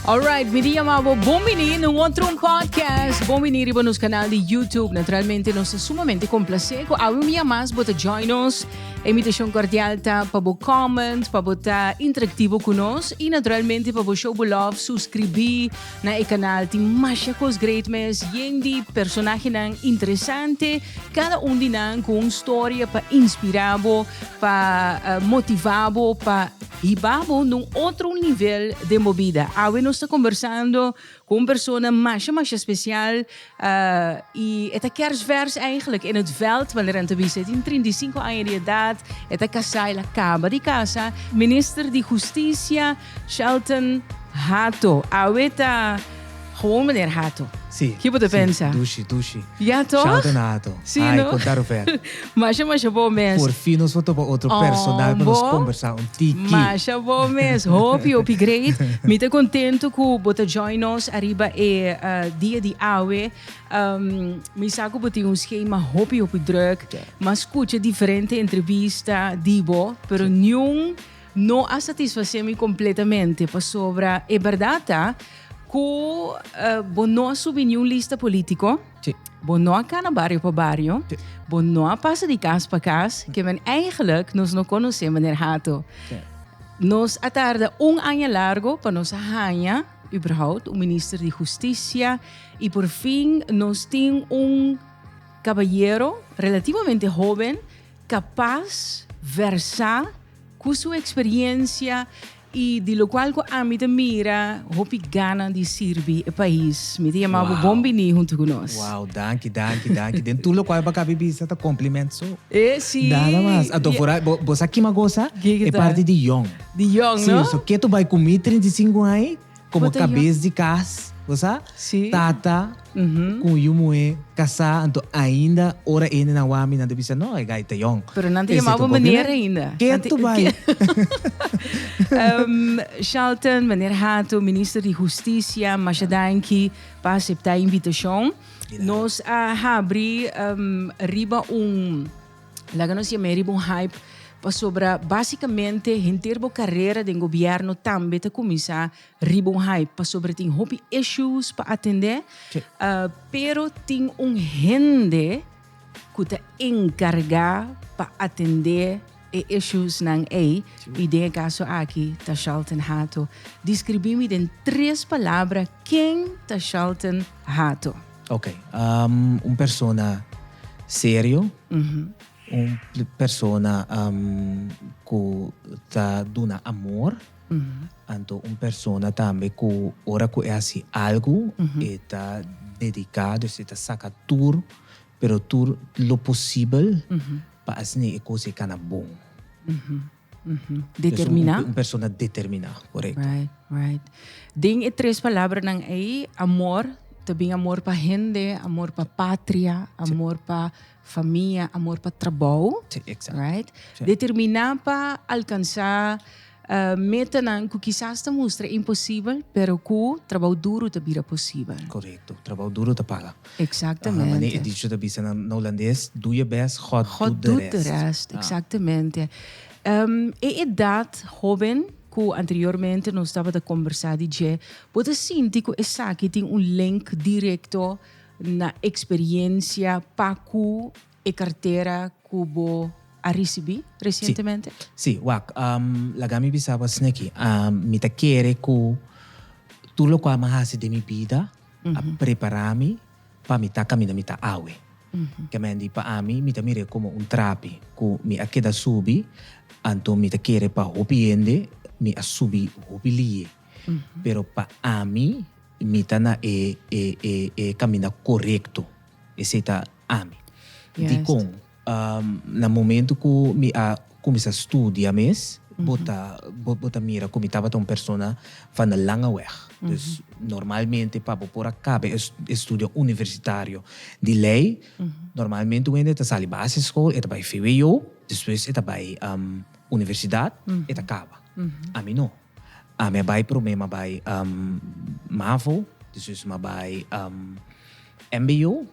Alright, mi di yama bo bon bini na un otro un podcast. Bon bini riba nos canal di YouTube. Naturalmente, nos ta sumamente complacé cu awe un dia mas bo ta join nos. E invitacion cordial ta pa bo comment, pa bo ta interactivo cu nos y naturalmente pa bo show bo love, suscribi na e canal. Tin masha cos great mes, yen di personahenan interesante, cada un di nan cu un storia pa inspira bo, pa motiva bo, pa Hibabo na un otro nivel den bo bida. Awe nos ta kombersando ku un persona masha masha spesial i e ta kèrsvèrs eigentlik in het veld manera nan ta bisa. E tin trinta i sinku aña di edat, e ta kasá, el a kaba di kasa. Minister di Hustisia Shelton Hato awe ta. Gewoon meneer Hato. Sí. Ki bo ta pensa? Sí, dushi, dushi. Ja toch? Shout na Hato. Sí, Ay, no? konta Rufer. masha, masha bo mes. Por fin nos por topa otro personal pa nos kombersá un tiki. Masha bo mes. Hopi, hopi great. Mi ta kontento ku bo ta join nos ariba e dia di awe. mi sa ku bo tin un skema hopi, hopi drùk. M'a skucha diferente entrebista di bo, pero niun No a satisfacé mi completamente pasobra e berdad ta cu bo no a subi ni un lista politico, bo no a cana bario pa bario, bo no a pasa di cas pa cas, que men eigenlijk nos no conocé meneer Hato. Nos a tarda un aña largo pa nos a haña uberhoudt un minister di Husticia y porfin nos tin un caballero relativamente hoben capaz, versa, Cu su experiencia y di locual cu ami ta mira hopi gana di sirbi e pais, mi ta yama bo bon bini hunto cu nos. Wow, danki, danki, danki. Den tur locual bo a cabi bisa ta compliment so. E si. Nada mas. Anto fora bo, bo sa kima gosa? Kiko ta? E parti di jong. Di jong, no? Si, so keto bai cu mi trinta i sinku ai. Komo kabes di kas, bo sa, tata ku yu muhé kasá, anto ainda ora hendenan wak mi nan ta bisa, no, e gai ta yòn. Pero nan ta yama bo meneer ainda. Kiet tu bai. Shelton, meneer Hato, Minister di Hustisia, masha danki pa aseptá e invitashon. Nos a habri riba un. Laga nos yam'é riba un hype pasobra básikamente henter bo karera den gobièrnu tambe ta kuminsá riba un hype pasobra tin hopi issues pa atendé pero tin un hende ku ta enkargá pa atendé e issuesnan ei i den e kaso aki ta Shelton Hato. Deskribí mi den tres palabra ken ta Shelton Hato? Ok, un persona serio, un persona ku ta duna amor, anto un persona tambe ku ora ku e hasi algu e ta dediká, dus e ta saka tur, pero tur lo posibel pa asina e kos e kana bon. Determiná. Esnan un persona determiná, korekto. Right, right. Den e tres palabranan ei, amor, ta bin amor pa hende, amor pa patria, amor pa famia, amor pa trabou. Sí, exacto. Right? Sí. Determiná pa alkansá eh, metanan ku kisas ta mustra imposibel, pero ku trabou duru ta bira posibel. Korekto. Trabou duru ta paga. Exactamente. Mane e dicho ta bisa na Holandes, Doe je best, God, God doet de rest. rest. Exactamente. Um, e edad hoben cu anteriormente nos tabata conversa di dje, bo ta sinti cu esaki tin un link directo na experiencia pa cu E kartera ku bo a risibí resientemente? Sí, wak, laga mi bisa bo asina aki. Mi ta kere ku tur lokual mi a hasi den mi bida a prepará mi pa mi ta kaminda mi ta awe. Ke mendi pa ami mi ta mir'é komo un trapi ku mi a keda subi, anto mi ta kere pa hopi hende mi a subi hopi lie. Pero pa ami mi ta na e kaminda korekto. Esei ta. ami. Dikon? Na momentu ku mi a kuminsá studia mes, bo ta, bo ta mira ku mi tabata un persona van e langa wèg. Dus, normalmente pa bo por a kaba e estudio universitario di lei, normalmente un hende ta sali basischool, e ta bai vwo, despues e ta bai universidat, e ta kaba. Ami no. A mi a bai prome m'a bai mavo, despues m'a bai mbo,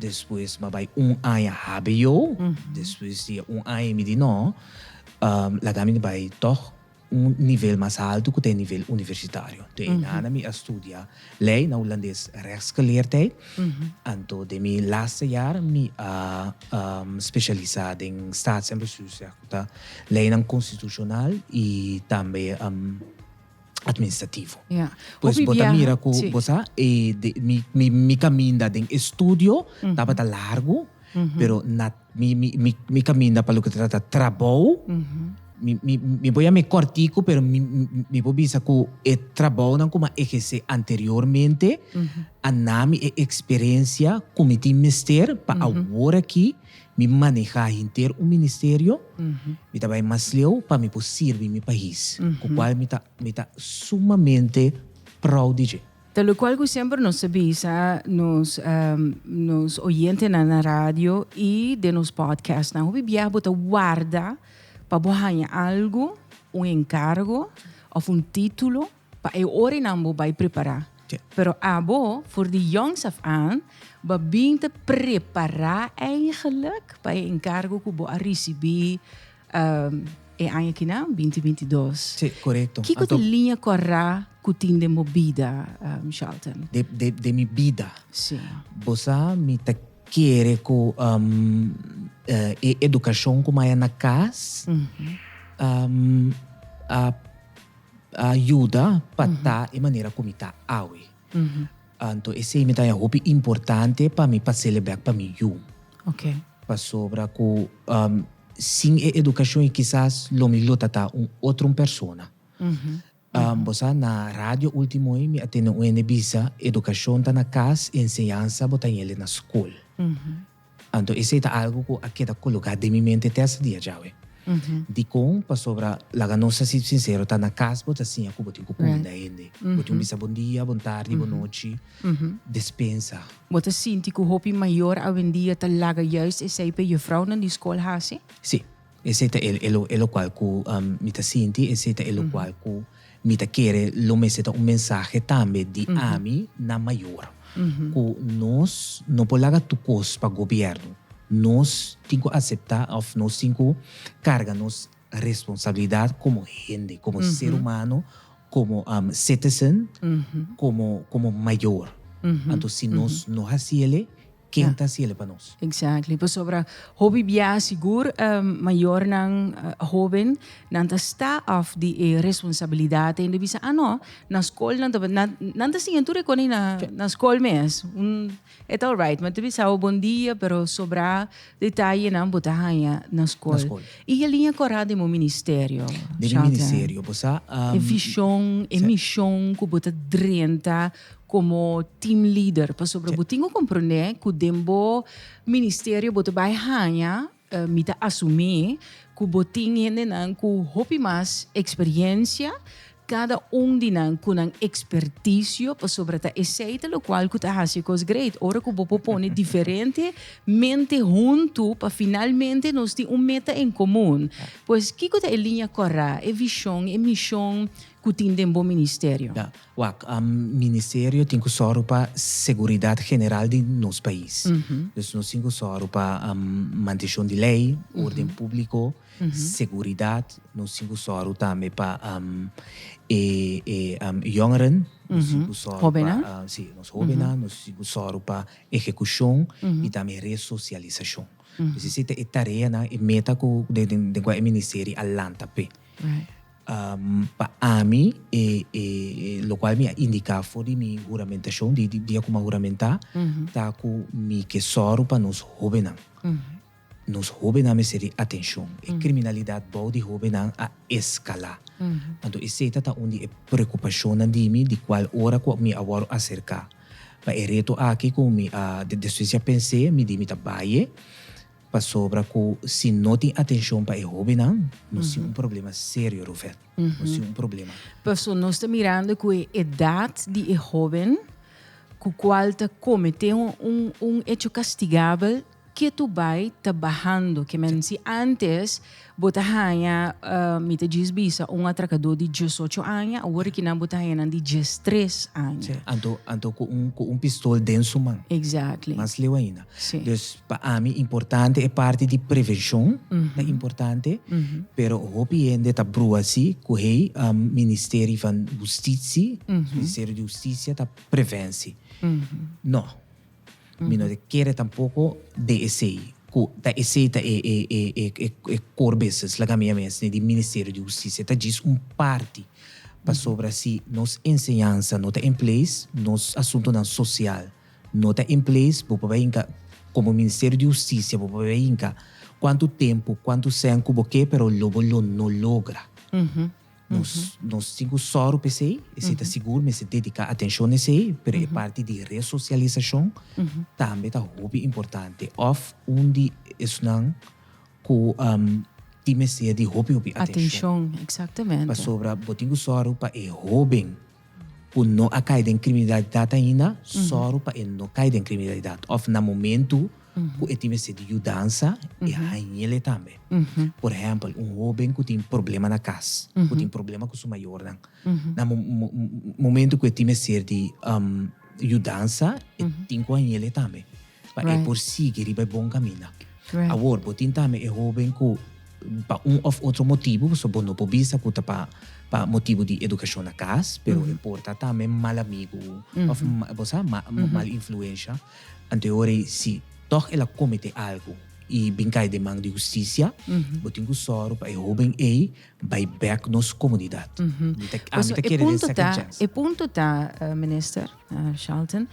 despues m'a bai un aña hbo, despues di e un aña y mi di no laga mi bai toch un nivel mas alto cu ta e nivel universitario. Toa e nana mi a studia ley na Hulandes rechtsgeleerdheid, anto den mi laatste jaar mi a specialisa den staats en bestuursrecht. Ta leinan konstitushonal i tambe administrativo. Ya. Pues bo ta mira ku bo sa e mi kaminda den e studio tabata largu, pero na mi kaminda pa loke ta trata trabou, mi por yam'e kòrtiku pero mi por bisa ku e trabounan ku mi a ehersé anteriormente a nami e eksperensia ku mi tin mester pa awor aki. Mi manehá henter un ministerio, mi ta bai mas leu pa mi por sirbi mi pais, ku kual mi ta mi ta sumamente prou di dje. Ta lokual ku semper nos ta bisa nos nos oyentenan na radio i den nos pòdkèstnan, hopi biaha bo ta warda pa bo haña algu, un enkargo òf un título, Pa e orinan bo bai prepará. Pero abo, for di jongs af aan, bo bin te prepará eigenlijk pa e enkargo ku bo a risibí e aña kina, binti binti dos. Sí, korekto. Kiko ta e liña kòrá ku tin den bo bida, Shelton? Den mi bida? Sí. Bo sa mi ta kere ku e edukashon ku maya na kas a. a yuda pa ta e manera ku mi ta awe. Anto esei mi ta hopi importante pa mi pa sele bèk pa mi yu. Pasobra ku sin e edukashon kisas lo mi lo tata un otro un persona. Bo sa na radio último ei mi a tene un hende bisa, edukashon ta na kas, enseñansa bo ta heli na skol. Anto esei ta algu ku a keda kologá den mi mente te hasta dia djawe. Dikon? Pasobra laga nos a si sinsero, ta na kas bo ta siña ku bo tin ku kunda hende. Bo tin ku bisa bon dia, bon tardi, bon nochi, despensa. Bo ta sinti ku hopi mayor awendia ta laga yais esei p'e jufrounan di skol hasi? Sí. Esei ta e, e, e lokual ku mi ta sinti, esei ta e lokual ku mi ta kere. Lo mester ta un mensahe tambe di ami na mayor, ku nos no por laga tur kos pa gobièrnu. Nos tin ku aseptá òf nos tin ku karga nos responsabilidat komo hende, komo ser humano, komo citizen, komo, komo mayor. Anto si nos no hasi elei. Ken ta hasiele pa nos? Exactly, pasobra hopi bia sigur mayornan, hoben, nan ta sta af di e responsabilidad hende bisa ah no na school nan tabata nan nan ta siña tur e coni na na school mes un e ta alright mante bisa bo bon dia pero sobra detayenan bo ta haña na school y e liña cora den bo ministerio Shelton? den e ministerio bo sa e vision e mision cu bo ta drenta komo team leader pasobra bo tin ku komprondé ku den bo ministerio bo ta bai haña eh, mi ta asumí ku bo tin hendenan ku hopi mas eksperiencia kada un di nan ku nan ekspertisio pasobra ta esei ta lokual ku ta hasi e kos great ora ku bo por pone diferente mente huntu pa finalmente nos tin un meta en komun pues kiko ta e liña kòrè e vishon e mishon ku tin den bo ministerio. Ya. Wak, Ministerio tin ku sòru pa seguridat general di nos pais. Dus nos tin ku sòru pa manteshon di lei, órden públiko, seguridat. Nos tin ku sòru tambe pa e yòngeren, nos tin ku sòru pa, sí, nos hóbennan, nos tin ku sòru pa ehekushon i tambe resosialisashon. Pues esei ta e tareanan, e meta ku den kua e ministerio a lanta p'e. Pa ami, e lokual mi a indiká for di mi huramentashon, di dia ku mi a huramentá, ta ku mi ke sòru pa nos hóbennan. Nos hóbennan mester di atenshon. E kriminalidat bou di hóbennan a eskalá. Anto esei tata un di e preokupashonnan di mi di kual ora ku mi a wòrdu aserká pa e reto aki ku mi a despues di a pens'é mi di mi ta baie. Pasobra ku si no tin atenshon pa e hóbennan, nos tin un problema serio, Ruvet. Nos tin un problema. Pastor, nos ta mirando ku e edat di e hóben ku kual ta kometé un un echo kastigabel, ke tu bai ta bahando. Ke men si ántes, Bo ta haña, mi ta djis bisa, un atrakadó di diesocho aña, awor aki nan bo ta haña nan di diestres aña. Sí, anto, anto ku un, ku un pistol den su man. Exactly. Mas leu ainda. Sí. Dus, pa ami importante e parti di prevenshon, ta importante, pero hopi hende ta brua si ku hei Ministeri van Hustitsi, Ministerio di Hustisia ta prevensi. Nò. Mi no ta kere tampoco den esey, cu ta esey ta e e core business laga mia mes ni di Ministerio di Husticia. Ta djis un parti, pasobra si nos enseñansa no ta in place, nos asuntonan social no ta in place, bo por bai hinca, como Ministerio di Husticia, bo por bai hinca cuantu tempo, cuantu cen cu bo ke, pero lo bo lo no logra. Nos nos tin cu sòru pa esei, esei ta sigur mester dedicá atencion na esei, pero e parti di resocialisacion tambe ta hopi importante of un di esnan cu tin mester di hopi hopi atencion. Atencion, exactamente. Pasobra bo tin cu sòru pa e hoben. ku no a kai den kriminalidat ainda, sòru pa e no kai den kriminalidat. Òf na momentu ku e tin mester di yudansa, e hañel e tambe. Por ehèmpel, un hóben ku tin problema na kas, ku tin problema ku su mayornan, na momentu ku e tin mester di yudansa, e tin ku hañel e tambe. pa e por sigui riba e bon kaminda. Awor, bo tin tambe e hóben ku pa un òf otro motibu, pasobra bo no por bisa ku ta pa motibu di edukashon na kas, pero e por ta tambe mal amigu òf bo sa, mal influensha. Anto e ora ei, si tòg el a kometé algu i bin kai den man di hustisia, bo tin ku sòru pa e hóben ei Bai bek nos comunidad. Mm -hmm. Mi ta, ami ta kere den second chance. E punto ta, uh, minister uh, Charlton,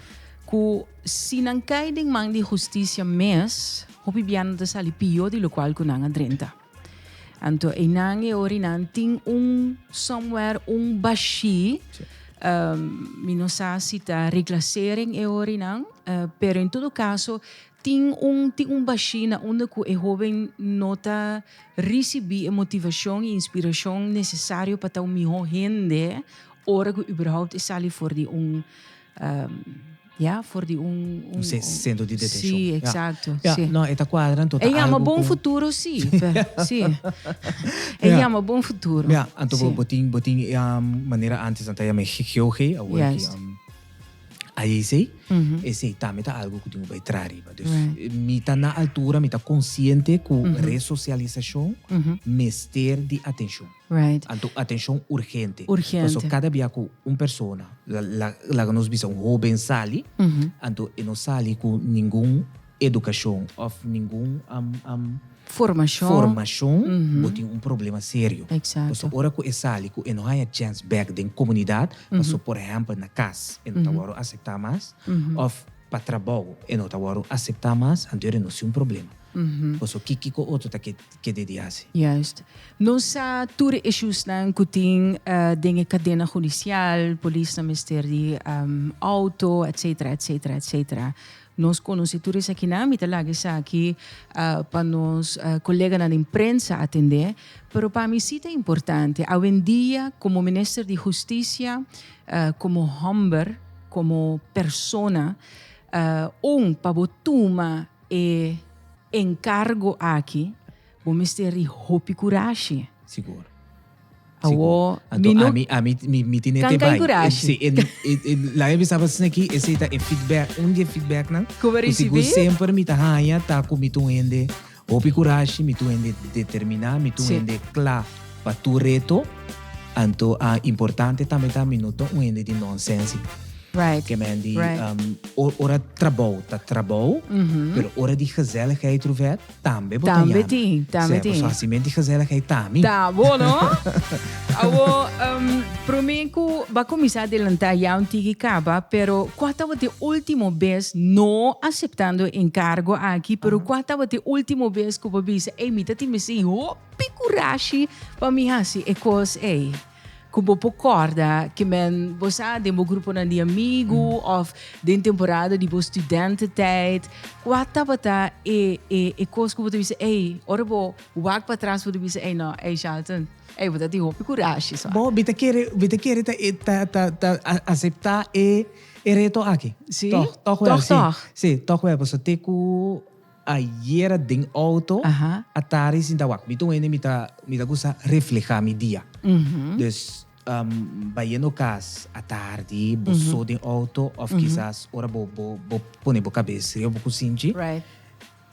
cu si nan cai den man di justicia mes, hopi bia nan ta sali pio di locual cu nan a drenta. Anto e nan e ori nan tin un somewhere, un bashi. Sí. Um, mi no sa si ta reclasering e ori nan, uh, pero en todo caso Tin un tin un bashina unda ku e hóben no ta risibí e motivashon i inspirashon nesesario pa ta un mihó hende ora ku überhaupt e sali for di un ya for di un un sentro di detenshon. Sí, eksakto. Ya, sí. No, e ta kuadra anto ta algu ku. E yama bon futuro sí, pè sí. E yama bon futuro. Ya, anto bo tin bo tin manera antes nan ta yam'é GOG, awor ki. Ayesey, esey tambe ta algo cu tin cu bay traha riba. Dus, mi ta na altura, mi ta consciente cu resocialisacion mester di atencion. Anto atencion urgente. Pasobra cada bia cu un persona, laga nos bisa un hoben sali, anto e no sali cu ningun edukashon òf ningun formashon, bo tin un problema serio. Pasobra ora ku e sali ku e no haña chèns bèk den komunidat, paso por ehèmpel na kas e no ta wòru aseptá mas, òf pa trabou e no ta wòru aseptá mas, anter e no si un problema. Paso kiko otro ta ke debí hasi? Juist. Nos sa tur e ishusnan ku tin den e kadena hudisial, polisnan mester di outo, etsetera, etsetera, etsetera. Nos conoci tur esakinan, mi ta laga esaki pa nos coleganan den prensa atende, pero pa mi si ta importante. Awendia como Minister di Husticia, como homber, como persona, un pa bo tuma e encargo aki, Bo mester di hopi kurashi. Sigur. Awo mi no. Anto ami ami mi tin e te bai. Kurashi. Si laga bisa pa sna aki ese ta e feedback un di e feedbacknan. Ku bo risibi. Ku sigur semper mi ta haña ta ku mi ta un hende hopi kurashi, mi ta un hende determiná, mi ta un hende kla pa tur reto. Anto a importante tambe ta mi no ta un hende di nonsensi. Right. Ke men di ora trabou ta trabou pero ora di gezelligheid Ruvet. tambe bo ta Tambe yama. tin, tambe tin. Paso hasi menti gezellig ei ta mi. Ta bo no. Awo, um, prome ku ba kuminsá adelantá ya un tiki kaba, pero kua tabata e ultimo bes, no aseptando e enkargo aki, pero kua tabata e ultimo bes ku bo bisa, ei, mi ta tin mester hopi kurashi pa mi hasi e kos ei? ku bo por kòrda ke men bo sa den bo gruponan di amigu òf den temporada di bo studententijd? Kua tabata e e e kos ku bo ta bisa ei ora bo wak pa tras bo ta bisa ei nò ei Shelton ei bo ta tin hopi kurashi suave. Bo mi ta kere mi ta kere ta ta ta ta aseptá e e reto aki. Sí. Tòg tòg wèl sí. Tòg tòg. Sí tòg wèl pasobra te ku. Ayera den auto, atari sinta wak. Mi ta un hende mi ta mi ta gusta refleha mi dia. Dus bayendo cas atardi bo so den auto of kisas ora bo bo bo pone bo cabes riba bo cusinchi,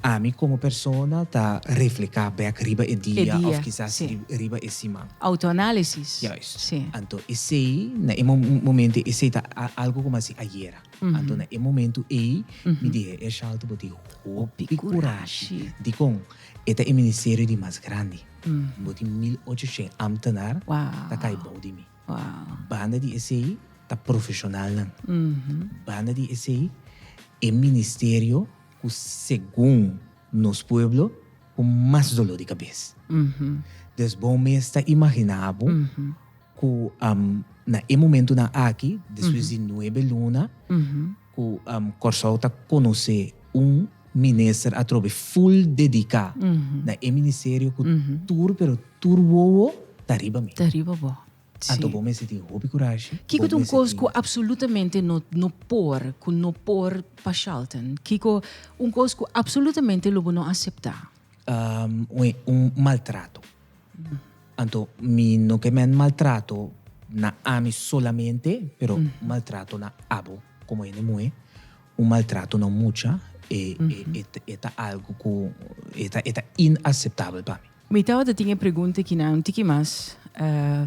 ami como persona ta refleha bek riba e dia of kisas riba e siman. Autoanalisis. Juist. Anto esey na e momento esey ta algo como asi ayera. Anto na e momentu ei mi di e Ershalto bo tin hopi kurashi. Dikon? E ta e ministerio di mas grandi. Bo tin mil ocho shen amtenar ta kai bou di mi. Banda di esei ta profeshonalnan. Banda di esei e ministerio ku segun nos pueblo ku mas doló di kabes. Dus bo mes ta imaginá bo. ku na e momentunan aki, despues di nuebe luna ku Kòrsou ta konosé un minister atrobe ful dediká na e ministerio ku tur pero tur wowo ta riba mi. Ta riba bo. Anto bo mester tin hopi kurashi. Kiko ta un kos ku apsolutamente no por, ku no por pa Shelton? Kiko un kos ku apsolutamente lo bo no aseptá? Un maltrato. Anto mi no ke men maltrato na ami solamente, pero maltrato na abo komo hende muhé. Un maltrato na un mucha e e ta algu ku e ta e ta inaseptabel pa mi. Mi tabata tin e pregunta e kina un tiki mas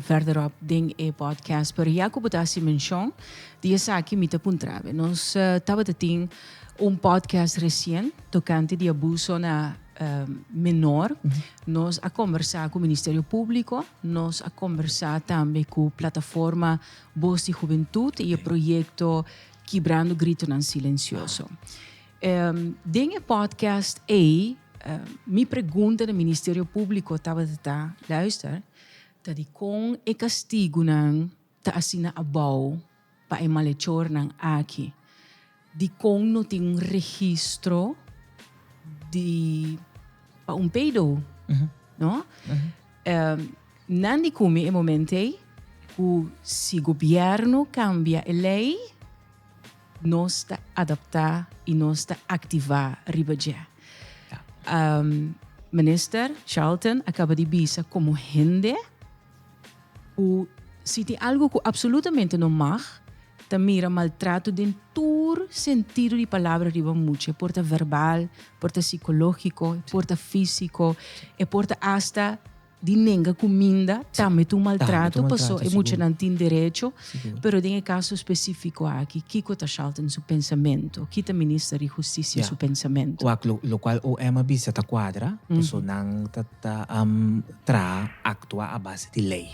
vèrderop den e podcast, pero ya ku bo ta hasi menshon di esaki mi ta puntrabe. Nos tabata tin un podcast resien tokante di abuso na menor, Nos a kombersá ku Ministerio Públiko, nos a kombersá tambe ku Plataforma Bos di Hubentut i e proyekto Kibrando Gritonan Silensioso. Den e pòdkast ei mi pregunta na Ministerio Públiko tabata ta, Luister, ta dikon e kastigunan Ta asina abou pa e malechornan aki. Dikon no tin un registro di pa un pedo? No? Nan di kumi e momento ei ku si gobierno kambia e lei nos ta adaptá i nos ta aktivá riba dje. Minister Charlton a kaba di bisa komo hende Ku si tin algu ku apsolutamente no mag, ta mira maltrato den tur sentido di palabra riba mucha. E por ta verbal, e por ta sikológiko, e por ta físiko, e por ta asta di nenga kuminda, tambe ta un maltrato, paso e muchanan tin derecho, pero den e kaso espesífiko aki, kiko ta Shalton su pensamentu? Ki ta Minister di Hustisia su pensamentu? Wak, lokual OM a bisa ta kuadra, paso nan ta ta. traha aktua a base di lei.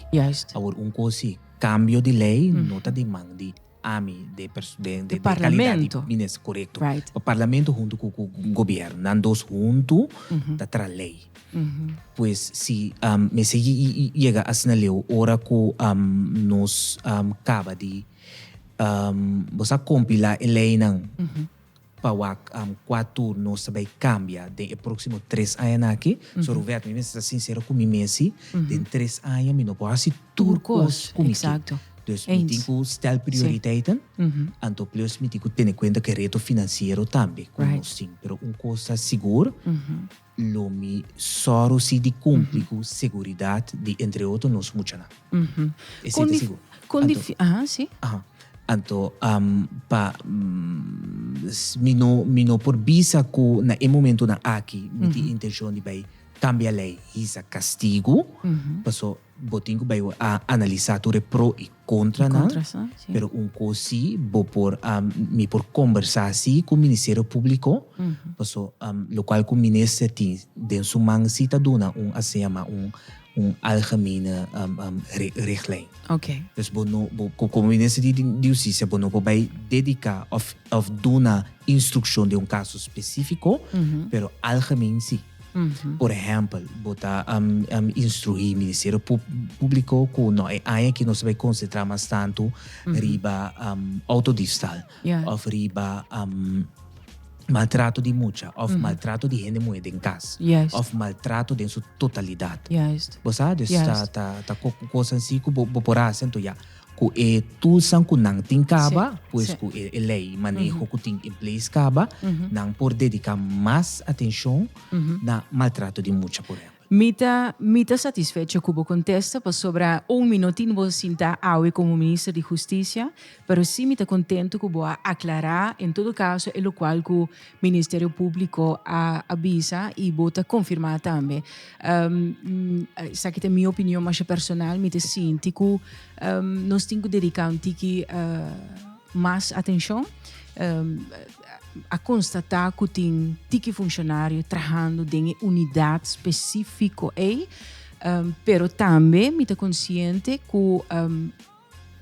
Awor un kos si kambio di lei no ta di man di ami, di kalidat di minister, korekto, pa parlamento huntu ku gobièrnu, nan dos huntu ta traha lei. Pues si mester yega asina leu ora ku nos kaba di bo sa kompilá e leinan. Pa wak kua turnos ta bai kambia den e próksimo tres añanan aki. So Roberto, mi mester ta sinsero ku mi mes si den tres aña mi no por hasi tur kos ku mi ke. Dus mi tin ku stèl prioriteiten, anto plus mi tin ku tene kuenta ku e reto finansiero tambe ku nos tin. Pero un kos ta sigur. Lo mi sòru si di kumpli ku seguridat di entre otro nos muchanan. Esei ta sigur. Kon difísil, aha, si. Aha. Anto pa mi no mi no por bisa ku na e momentunan aki mi tin intenshon di bai kambia lei, hisa kastigu, paso Bo tin ku bai a analisá tur e pro i kontranan, pero un kos si, bo por, mi por kombersá si ku Ministerio Públiko, paso lokual ku minister tin den su man si ta duna un asina yama un algemene richtlijn. Oké. Bo no, komo minister di Hustisia bo no por bai dediká òf. Of duna instrukshon den un kaso spesífiko, pero algemen sí. Por ehèmpel, bo ta instruí Ministerio Públiko ku nò e aña aki nos ta bai konsentrá mas tantu riba outodifstal òf riba maltrato di mucha òf maltrato di hende muhé den kas òf maltrato den su totalidat. Bo sa? Dus ta kos ansí ku bo por hasi anto ya. Cu e toolsnan cu nan tin caba, pues cu e ley y maneho cu tin in place caba, nan por dedica mas atencion na maltrato di mucha, por ehempel. Mi ta mi ta satisfecho cu bo contesta, pasobra aun mi no tin bo sinta awe como Minister di Husticia, pero si mi ta contento cu bo a aclara, en todo caso, e locual cu Ministerio Públiko a a bisa i bo ta konfirmá tambe. Esaki ta mi opinion masha personal, mi ta sinti ku nos tin ku dediká un tiki mas atenshon. A konstatá ku tin tiki funshonario trahando den e unidat spesífiko ei, pero tambe mi ta konsiente ku.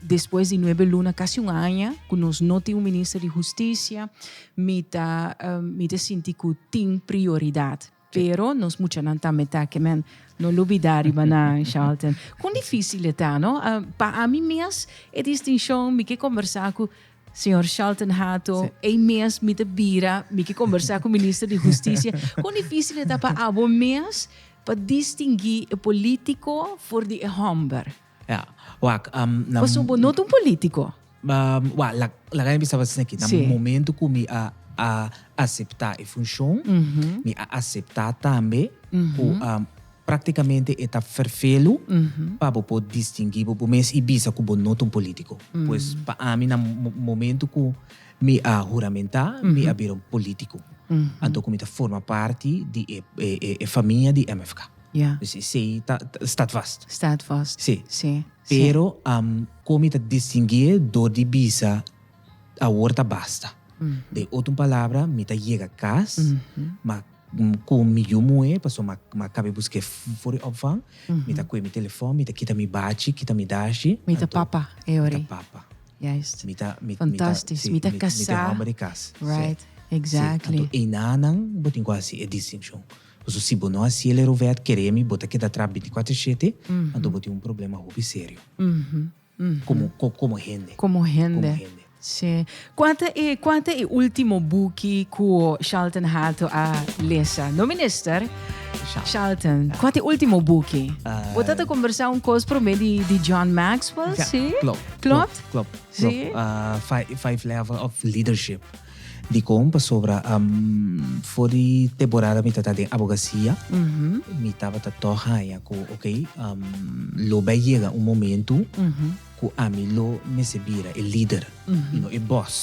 Despues di nuebe luna, casi un aña, cu nos no tin un Minister di Husticia, mi ta, mi ta sinti cu tin prioridad. Pero nos muchanan tambe ta aki, men, no lo bida riba nan, Charlton. Con dificil e ta, no? Pa ami mes, e distincion, mi ke combersa cu Señor Charlton Hato, ei mes mi ta bira, mi ke combersa cu Minister di Husticia. Con dificil e ta pa abo mes pa distingui e politico for di e homber? Pasobra bo no ta un polítiko. Wak, laga mi a bisa bo asina aki. Na momentu ku mi a aseptá e funshon, mi a aseptá tambe ku praktikamente e ta ferfelu pa bo por distinguí bo bo mes i bisa ku bo no ta un polítiko. Pues pa ami na momentu ku mi a huramentá, mi a bira un polítiko. Anto ku mi ta forma parti di e famia di MFK. Ya. Dus esei ta stadvast. Stadvast. Sí. Sí. Pero kon mi ta distingui'e dor di bisa awor ta basta. Den otro palabra mi ta yega kas ma ku mi yu muhé pasobra ma ma kabe busk'é for di opvang mi ta kohe mi telefòn mi ta kita mi bachi kita mi dashi. Mi ta papa e ora ei. Mi ta papa. Juist. Mi ta mi ta. Fantastisch. Mi ta kasá. Mi ta homber di kas. Right. Exactly. Anto einan nan bo tin ku hasi e distinshon. Paso si bo no hasi el e rovet kere mi bo ta keda tra binticuater shete anto bo tin un problema hopi serio como como hende. Como hende si. Cua ta e cua ta e ultimo buki cu Shelton Hato a lesa no minister? Shelton cua ta e ultimo buki? Bo ta ta conversa un cos prome di di John Maxwell si? Clopt clopt clopt si? Five level of leadership. Dikon pasobra for di temporada mi ta ta den abogasia mi tabata tok haña ku oke lo bai yega un momentu ku ami lo mester bira e lider i no e bòs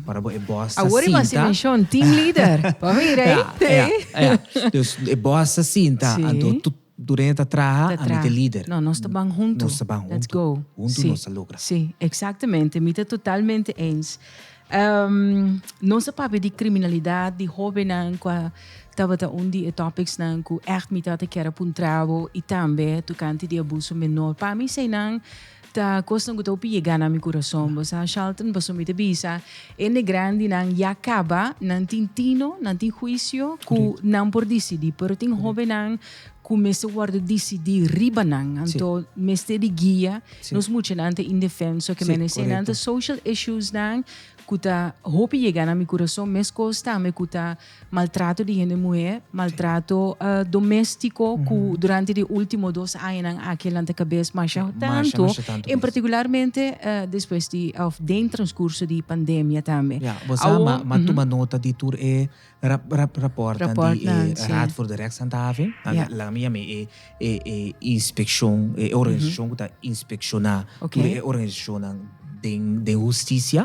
ora bo e bòs ta sinta team leader pa mira ey. Dus e bòs ta sinta anto. Dureña ta traha, ami t'e lider. No, nos ta ban huntu. Nos ta ban huntu. Let's go. Huntu nos ta logra. Sí, sí. Exactamente. Mi ta totalmente eens. Nos a papia di criminalidad, di hobennan cu a tabata un di e topicsnan cu echt mi tabata kier a puntra bo y tambe tocante di abuso menor. Pa mi eseinan Ta kosta un guto pi yega na mi kurason. Bo sa, Shalton, paso mi ta bisa, hende grandinan ya kaba, nan tin tino, nan tin huisio ku nan por disidí. Pero tin hóbennan ku mester wòrdu disidí riba nan. Anto mester di guia. Nos muchanan ta indefenso, ke menesé nan ta social issuesnan ku ta hopi yega na mi kurason, mes kos tambe ku ta. Maltrato di hende muhé, maltrato doméstiko ku durante di último dos añanan aki lanta kabes masha tantu, en partikularmente despues di òf den transkurso di pandemia tambe. Ya, bo sa m'a tuma nota di tur e rapòrtnan di e Raad voor de Rechtshandhaving, nan mi yam'é e inspekshon, e organisashon ku ta inspekshoná tur e organisashonnan den hustisia.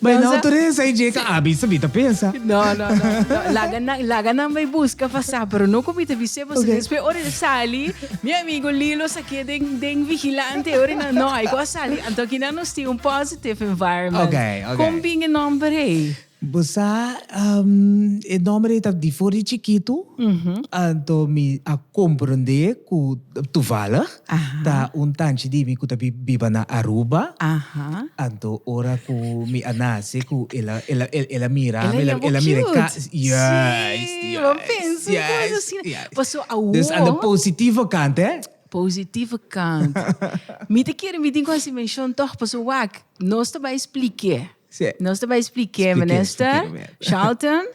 Bay na autoresa y dje ka abis mi ta pensa. No no no no laga nan laga nan bay busca pa sa pero no cu mi ta bise boso okay. despues ora el sali mi amigo Lilo sa ke den den vigilante ora nan no hay cu a sali anto aki nan nos tin un positive environment okay, okay. con bin e nomber hey. Bosa um, e nomber hey ta di for di chikito mm -hmm. anto mi a comprende cu toevallig. Ta un tanchi di mi ku ta biba na Aruba. Anto ora ku mi a nase ku el a el a el a mira mi, el a mira e kasa. Juist, juist, juist, juist. Dus a na positivo kant, e? Positivo kant. Mi ta kere mi tin ku hasi menshon tòg pasobra wak nos ta bai splik'é. Nos ta bai splik'é, Minister. Shalton.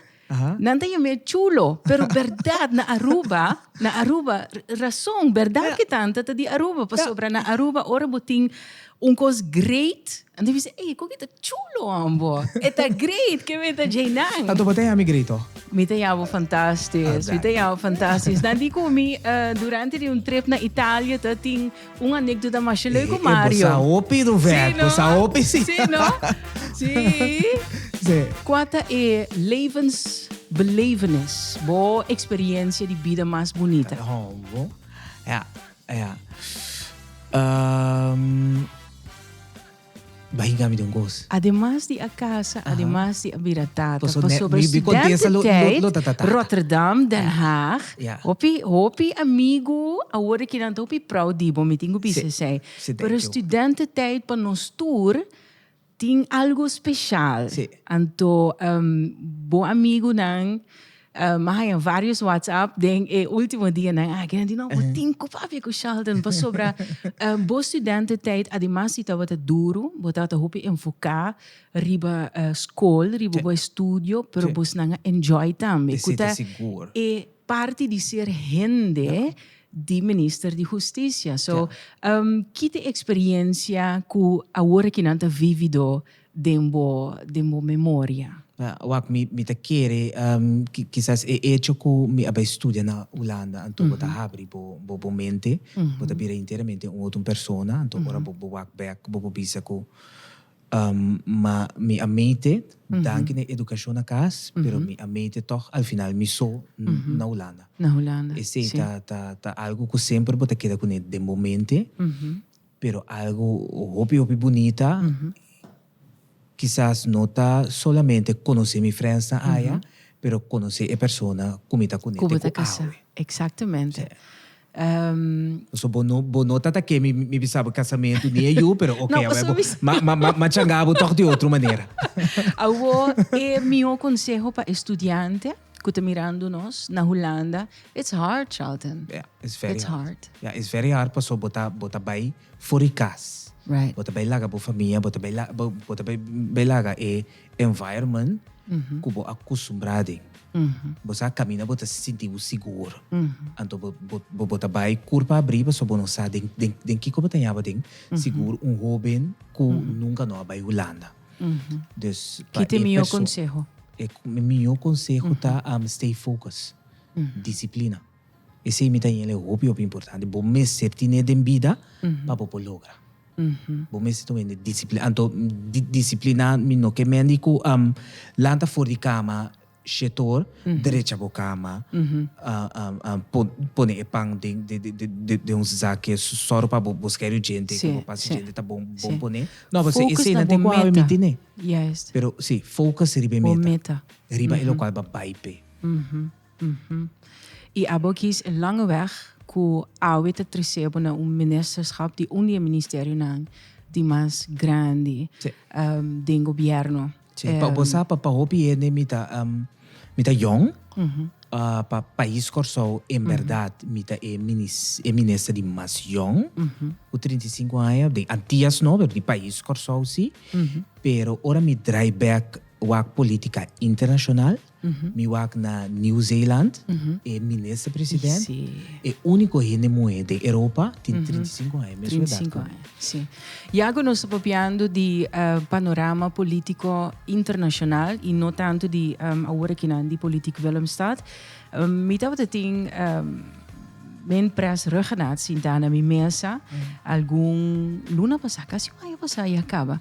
Nan ta yam'é chulo, pero berdad na Aruba, na Aruba, rason, berdad ke tanta ta di Aruba, pasobra na Aruba ora bo tin un kos great, nan ta bisa, ey, kon ke ta chulo an bo? E ta great, ke mei ta djei nan? Anto bo ta yami great ho? Mi ta yama fantastis, mi ta yama fantastis. Nan di ku mi, durante di un trip na Italia ta tin. Un anekdota masha leuke Mario. E bosa hopi Rover, bosa hopi si. Si no? Si. Si. Kua ta e levensbelevenis, bo eksperiensia di bida mas bunita? Bo, ja, ja. Um. Bai hinga mi den gos. Ademas di a casa, ademas di a bira tata, pasobra studententijd Rotterdam, Den Haag, hopi hopi amigu awor ki nan ta hopi prou di bo, mi tin ku bisa esei. Pero studententijd pa nos tur tin algu speshal. Anto bo amigunan. Mi haya varios whatsapp den e ultimo dianan aki. Nan di, no, bo tin ku papia ku Sheldon pasobra bo studententijd ademas si tabata duru, bo tabata hopi enfoká riba skol, riba bo estudio, pero bos nan a enjoy tambe. Ku ta e parti di ser hende di Minister di Hustisia. So, ki ta e eksperensia ku awor aki nan ta vivido den bo den bo memoria. Wak mi mi ta kere kisas e echo ku mi a bai studia na Hulanda anto bo ta habri bo bo bo mente bo ta bira enteramente un otro persona anto ora bo bo wak bek bo por bisa ku ma mi a mete danki na edukashon na kas pero mi a mete tog al final mi so na Hulanda esei ta ta ta algu ku semper bo ta keda kuné den bo mente Pero algo hopi hopi bunita, kisas no ta solamente conoce mi friendsnan aya, pero conoce e persona cu mi ta cune te cu awe. Exactamente. Pasobra bo no, bo no ta ta ke mi, mi bisa bo casamento ni e yu, pero oke, awe bo ma changa bo tog di otro manera. Awor, e mihor conseho pa e studiante. cu ta mirando nos na Hulanda, it's hard, Charlton. Yeah, it's very it's hard. hard. Yeah, it's very hard paso bo ta, bo ta bay for e cas. Right. Bo ta bay laga bo famia, bo ta bay, la, bo, bo ta bay, bay laga e environment mm -hmm. cu bo acostumbrado den. Mm -hmm. Bo sa camina bo ta sinti bo sigur. Mm -hmm. Anto bo, bo, bo, bo ta bay curpa abri paso bo no sa den, den, den kico bo ta yaba den. Mm -hmm. Sigur un hoben cu mm -hmm. nunca no a bay Hulanda. Dus pa e perso. E mihó konseho ta stay focus, disiplina. Esei mi ta yinle hopi hopi importante. Bo mester tine den bida pa bo por logra. Bo mester ta wende disiplinado. Anto, disipliná mi no ke mendi ku lanta for di kama. Shetor, Derecha bo kama, pone e pan den un zak ke sòru pa bo skeri djente, ke bo pasa djente ta bon pone. Focus na bo meta. Yes. Pero si, focus riba e meta, riba e lokual bo a bai p'e. I abo kies e lange wèg ku awe ta tres'é bo na un ministerskap di un di e ministerionan di mas grandi den gobièrnu. Che, pa bo sa pa pa hopi hende mi ta mi ta yong pa pais Kòrsou en bèrdat mi ta e e minister di mas yong ku trinta i sinku aña den Antias no pero di pais Kòrsou si pero ora mi drai bèk wak politika internashonal. Mi wak na New Zealand e minister president e unico hende muhe den Europa tin trinta i sinku aña mesun edad cu mi. Si. Ya cu nos ta papiando di panorama politico internacional y no tanto di awor akinan di politiek Willemstad mi tabata tin men pres rug genat sinta na mi mesa algun luna pasa casi un aña pasa ya caba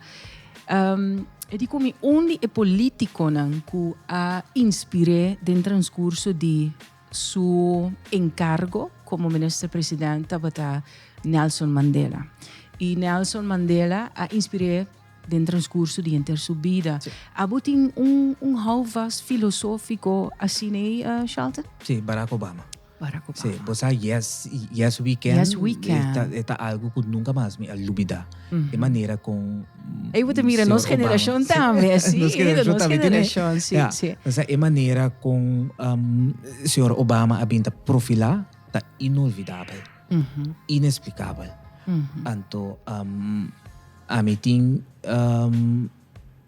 Um, e di kumi un di e politiconan ku a inspiré den transcurso di su encargo como minister president tabata Nelson Mandela. Y Nelson Mandela a inspiré den transcurso di enter su bida. Sí. Abo tin un, un houvast filosófico así nee, uh, Charlton? Sí, Barack Obama. Para ku papá. Bo sa yes yes weekend. Yes weekend. Eta eta algo ku nunka mas mi a lubida. E manera kon. Ey bo ta mira nos generashon tambe asi. nos generashon tambe tene. Nos generashon si si. O sea e manera kon um señor Obama a bin ta profilá ta inolvidabel. Inexplikabel. Anto um ami tin um.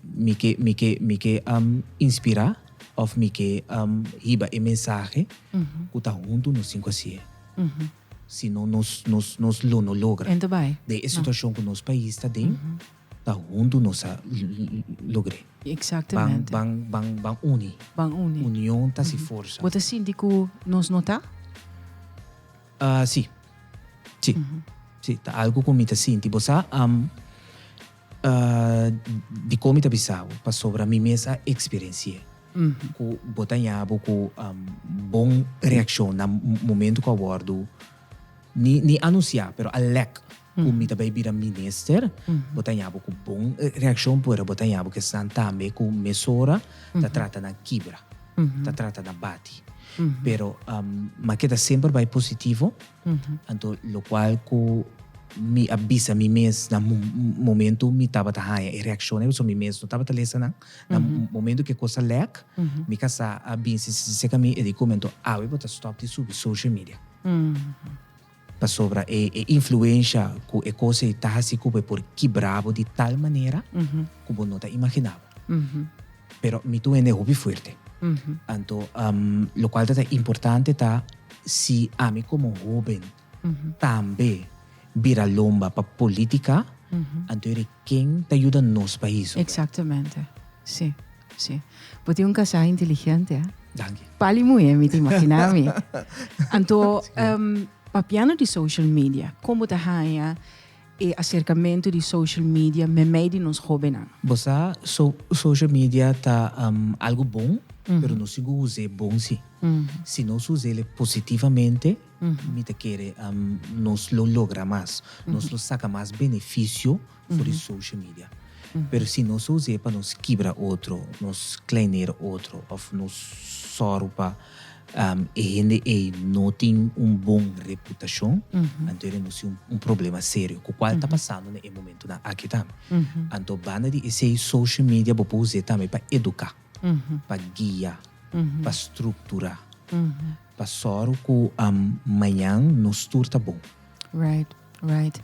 Mi ke mi ke mi ke am inspirá òf mi ke am hiba e mensahe ku ta huntu nos tin ku hasié. Si no nos nos nos lo no logra. Ento bai. Den e situashon ku nos pais ta den, ta huntu nos a logr'é. Eksaktemente. Ban ban ban ban uni. Ban uni. Union ta hasi forsa. Bo ta sinti ku nos no ta? Si. Si. Si ta algu ku mi ta sinti. Bo sa am. Di kon mi ta bisa bo? Pasobra mi mes a eksperensi'é ku bo ta ña bo ku bon reakshon na momentu ku a wòrdu, ni anunsiá, pero a lèk ku mi ta bai bira minister, bo ta ña bo ku bon reakshon pero bo ta ña bo ku esnan tambe ku mesora ta trata nan kibra, ta trata nan bati. Pero mi a keda semper bai positivo. Anto lokual ku mi a bisa mi mes na momentu mi tabata haña e reakshon ei pasobra mi mes no tabata lesa nan. Na momentu ku e kos a lèk mi ka sa a bin si si seseka mi e di ku mi anto awe bo ta stòp di subi social media. Pasobra e influensha ku e kos ei ta hasi ku bo e por kibra bo di tal manera ku bo no ta imaginá bo. pero mi tu hende hopi fuerte. Anto lokual ta ta importante ta si ami komo hoben tambe bira lomba pa politika, anto e riba ken ta yuda nos pais? Exactamente, si, si. Bo tin un kasá inteligente, eh? Danki. Pali muhé mi ta imaginá mi. Anto, papiando di social media, kon bo ta haña E aserkamentu di social media memei di nos hobennan. Bo sa, social media ta algu bon, pero no sigur us'é bon si. Si nos us'el positivamente, mi ta kere nos lo logra mas, nos lo saka mas benefisio for di social media. Pero si nos a us'é pa nos kibra otro, nos kleinera otro òf nos sòru pa. E hende ei no tin un bon reputashon, anto e renunsiá un problema serio ku kual ta pasando na e momentunan aki tambe. Anto banda di esei social media bo por us'é tambe pa eduká, pa guia, pa strukturá, pa sòru ku mañan nos tur ta bon. Right.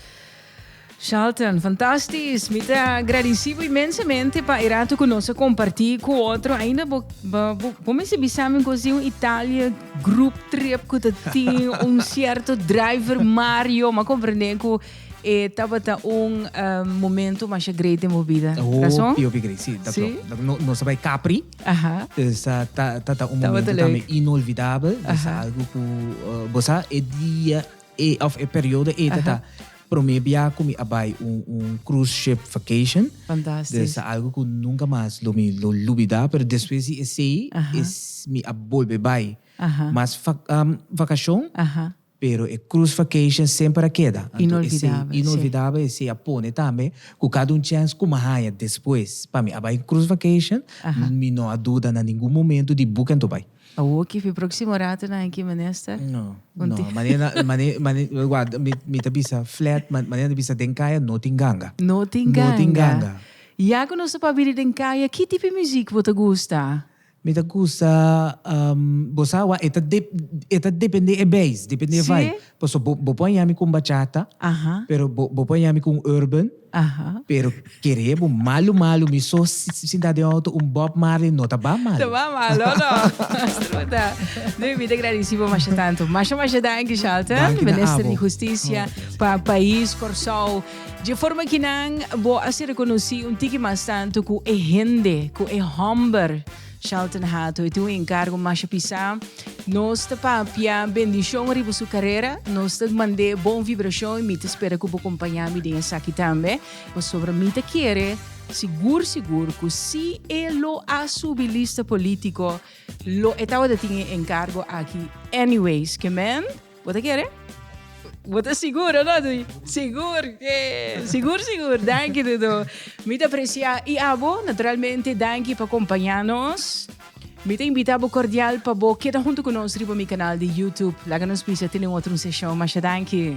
Shalton, fantastisch. Mi te agradecibo immensamente pa erato con nos comparti cu otro. Ainda bo, bo, bo, bo me sibisamen così un Italia group trip cu te tin un cierto driver Mario. Ma comprende cu e eh, tabata un uh, momento mas great in vida. Oh, Razon? Pio Pigri, sí, dat sí? klopt. No, no bij Capri. Aha. Dus uh, ta, ta, ta un momento también inolvidable. Dus algo cu, uh, bosa, e dia E of e periodo eta ta prome bia cu mi a bay un cruise ship vacation. Fantastisch. Dus ta algo cu nunca mas lo mi lo lubida, pero despues di esey mi a bolbe bay mas vacacion, pero e cruise vacation semper a keda. Anto esey inolvidable, esey a pone tambe cu cada un chance cu mi a haya despues pa mi a bay cruise vacation, mi no a duda na ningun momento di buca anto bay. Awor kipi proximo ratonan aki minister? No, no, manera manera guarda mi ta bisa flat manera ta bisa den kaya no tin ganga. No tin ganga. No tin ganga. Ya ku nos ta papia di den kaya ki tipo muzik bo ta gusta? Mi ta gusta bo sa awa e ta depende e beis, depende e vibe. Paso bo bo por a yami con bachata pero bo bo por a yami con urban pero kere bo malo malo mi so sinta den auto un Bob Marley no ta ba malo. Ta ba malo no. Disfruta. Nui mi ta gradeci bo masha tanto. Masha masha danki Shelton, Minister di Husticia pa pais Corsou. Dje forma ki nan bo a ser reconoci un tiki mas tanto cu e hende, cu e homber. Shelton Hato, e tin un enkargo masha pisá. Nos ta papia bendishon riba su karera. Nos ta mand'é bon vibrashon i mi ta spera ku bo kompañá mi den esaki tambe. Pasobra mi ta kere sigur sigur ku si e lo a subi lista polítiko lo e tabata tin e enkargo aki anyways. Ke men? Bo ta kere? Bo ta sigur, ò no, Duy? Sigur ke! Sigur, sigur. Danki, Dudu. Mi ta apresiá. I abo, naturalmente, danki pa kompañá nos. Mi ta invitá bo kordial pa bo keda huntu ku nos riba mi kanal di YouTube. Laga nos bisa tene un otro un seshon. Masha danki!